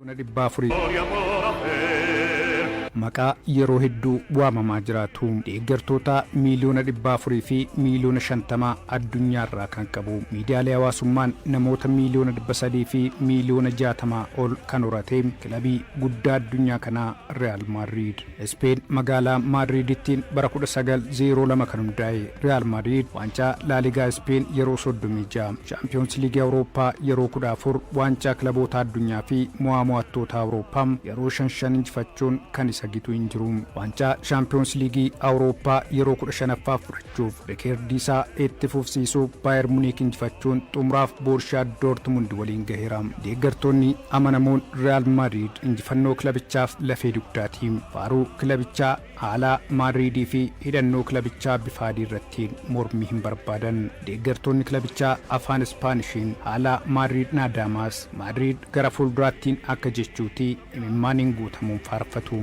Bona 400. Maqaa yeroo hedduu waamamaa jiraatu. Deeggartootaa miiliyoona 400 fi miiliyoona 50 addunyaa irraa kan qabu. Miidiyaalee hawaasummaan namoota miiliyoona 300 fi miiliyoona 60 ol kan horate kilabii guddaa addunyaa kanaa Riyaal Maadriid. Ispeen magaalaa Maadriiditti bara 1902 kan hundaa'e Riyaal Maadriid waancaa Laaligaa Ispeen yeroo 36, Shaampiyoonsi Liigii Awurooppaa yeroo 14, Waancaa Kilabootaa Addunyaa fi Mo'aa Mo'attootaa Awurooppaa yeroo shan shan injifachuun kan isa gitu hin jiru. Waancaa Shaampiyoonsi Liigii Awurooppaa yeroo 15ffaaf fudhachuuf rikeerdii isaa itti fufsiisuu Baayer Muniik injifachuun xumuraaf Boorshiyaa Doortimundi waliin gaheera. Deeggartoonni Amanamuun Riyaal Maadriid injifannoo kilabichaaf lafee dugdaati. Faaruu kilabichaa, haalaa Maadriidii fi hidhannoo kilabichaa bifa adii irratti mormii hin barbaadan. Deeggartoonni kilabichaa afaan Ispaanishiin haalaa Maadriid Naadaamaas, Maadriid gara fuulduraattiin akka jechuuti imimmaaniin guutamuun faarfatu.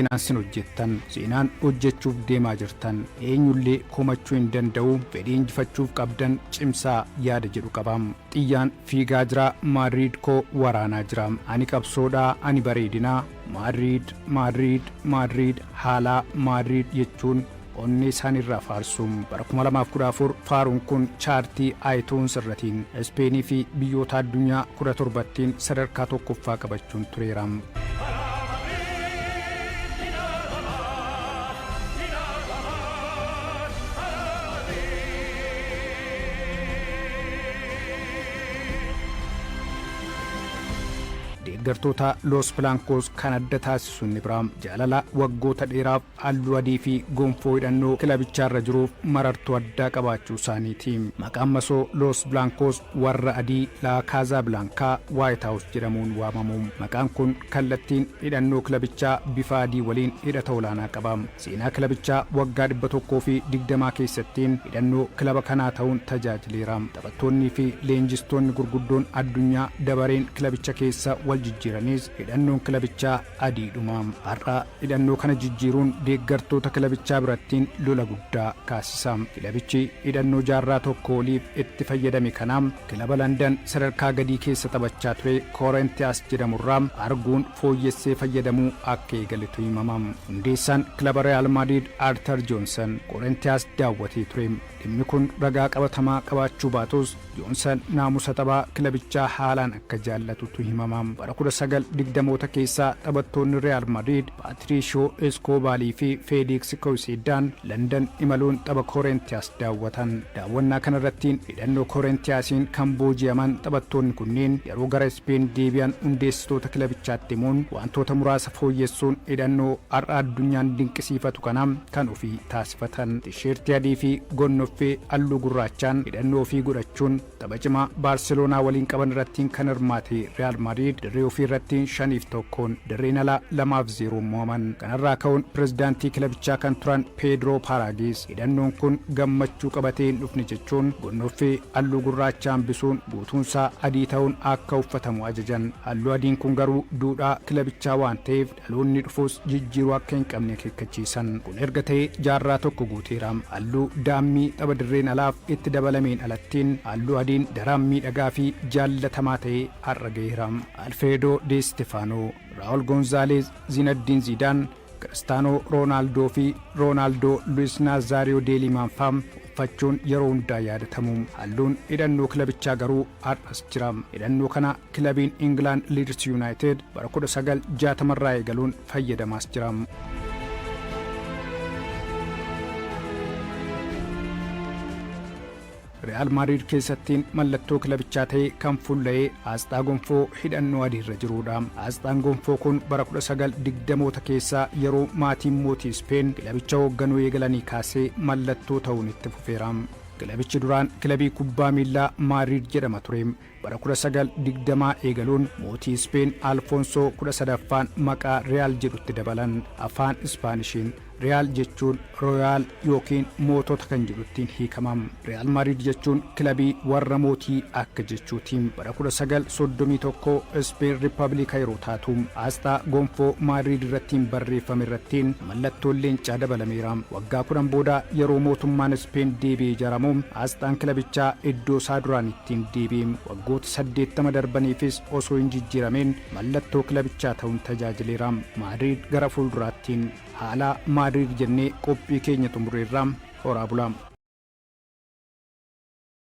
Seenaan sin hojjettan, seenaan hojjechuuf deemaa jirtan eenyullee komachuu hin danda'u. Fedhii injifachuuf qabdan cimsaa yaada jedhu qaba. Xiyyaan fiigaa jira, Maadriid koo waraanaa jira. Ani qabsoodha, ani bareedina. Maadriid, Maadriid, Maadriid, haalaa, Maadriid jechuun onnee isaanii irraa faarsu. Bara 2014 faaruun kun chaartii iTunes irratiin Ispeenii fi biyyoota addunyaa 17ttiin sadarkaa tokkoffaa qabachuun tureera. deeggartoota Los Blancos kan adda taasisu inni biraa jaalala waggoota dheeraaf halluu adii fi gonfoo hidhannoo kilabichaarra jiruuf marartuu addaa qabaachuusaaniiti. Maqaan masoo Loos Bilaankoos, Warra Adii, La Casa Blanca, White House, jedhamuun waamamu. Maqaan kun kallattiin hidhannoo kilabichaa bifa adii waliin hidhata olaanaa qaba. Seenaa kilabichaa waggaa 120 keessatti hidhannoo kilaba kanaa ta'uun tajaajileera. Taphattoonnii fi leenjistoonni gurguddoon addunyaa dabareen kilabicha keessa waljijjiiranis hidhannoon kilabichaa Adiidhuma har'aa hidhannoo kana jijjiiruun deeggartoota kilabichaa birattiin lola guddaa kaasisa. Kilabichi hidhannoo jaarraa tokkoo oliif itti fayyadame kana kilaba Landan sadarkaa gadii keessa taphachaa ture Koorentiyaas jedhamurraa arguun fooyyessee fayyadamuu akka eegaletu himama. Hundeessaan kilaba Riyaal Maadriid Artar Joonsan Koorentiyaas daawwatee ture. Dhimmi kun ragaa qabatamaa qabaachuu baatus Joonsan naamusa taphaa kilabichaa haalaan akka jaallatutu himama. Bara 1920moota keessa taphattoonni Riyaal Madriid Paatiriishoo Eskoobaalii fi Feeliiksi Kowisiiddaan Landan imaluun tapha Koorentiyaas daawwatan. Daawwannaa kanarrattiin hidhannoo Koorentiyaasiin kan booji'aman taphattoonni kunniin yeroo gara Ispeen deebi'an hundeessitoota kilabichaatti himuun wantoota muraasa fooyyessuun hidhannoo har'a addunyaan dinqisiifatu kana kan ofii taasifatan. Tiishertii adii fi gonnoffee halluu gurraachaan hidhannoo ofii godhachuun tapha cimaa Baarseloonaa waliin qaban irrattiin kan hirmaate Riyaal Maadriid dirree ofii irrattiin 5 fi 1'n dirreen alaa 2 fi 0'n mo'aman. Kanarraa ka'uun pirezidaantii kilabichaa kan turan Peedroo Paaraagiis hidhannoon kun gammachuu qabatee hin dhufne jechuun gonnoffee halluu gurraacha hambisuun guutuunsaa adii ta'uun akka uffatamu ajajan. Halluu adiin kun garuu duudhaa kilabichaa waan ta'eef Dhaloonni dhufus jijjiiruu akka hin qabne akeekkachiisan. Kun erga ta'ee jaarraa tokko guuteera. Halluu daammii tapha dirreen alaaf itti dabalameen alattiin halluu adiin daraan miidhagaa fi jaallatamaa ta'ee har'a gaheera. Alfireedoo Dee Istifaanoo, Raa'ul Gonzaaleez, Ziinaddiin Ziidaan, Kiristaanoo Roonaaldoo fi Roonaaldoo Luwis Naazaariyoo Dee Liimaan fa'a uffachuun yeroo hundaa yaadatamu. Halluun hidhannoo kilabichaa garuu har'as jira. Hidhannoo kana. Kilabiin Ingilaand Liids Yunaayitid bara 1960 irraa eegaluun fayyadamaas jira. Real Madrid keessattiin mallattoo kilabichaa ta'ee kan fulla'ee aasxaa gonfoo hidhannoo adii irra jiruudha. Aasxaan gonfoo kun bara 1920moota keessaa yeroo maatiin mootii Ispeen kilabicha hoogganuu eegalanii kaasee mallattoo ta'uun itti fufeera. Kilabichi duraan kilabii kubbaa miillaa Maadriid jedhama ture. Bara 1920 eegaluun mootii Ispeen Alfoonsoo 13ffaan maqaa Riyaal jedhutti dabalan. Afaan Ispaanishiin Riyaal jechuun Royaal ykn Mootota kan jedhu ittiin hiikama. Riyaal Maadriid jechuun kilabii warra mootii akka jechuuti. Bara 1931 Ispeen Rippabiliika yeroo taatu, aasxaa gonfoo Maadriid irrattiin barreeffame irratti, Mallattoon leencaa dabalameera. Waggaa 10 booda yeroo mootummaan Ispeen deebi'ee ijaaramu aasxaan kilabichaa iddoo isaa duraaniitti ni deebi'e. Waggoota 80 darbaniifis osoo hin jijjiiramiin mallattoo kilabichaa ta'uun tajaajileera. Maadriid gara fuulduraatti. Haala Maadriid jennee qophii keenya xumureerra. Horaa bulaa!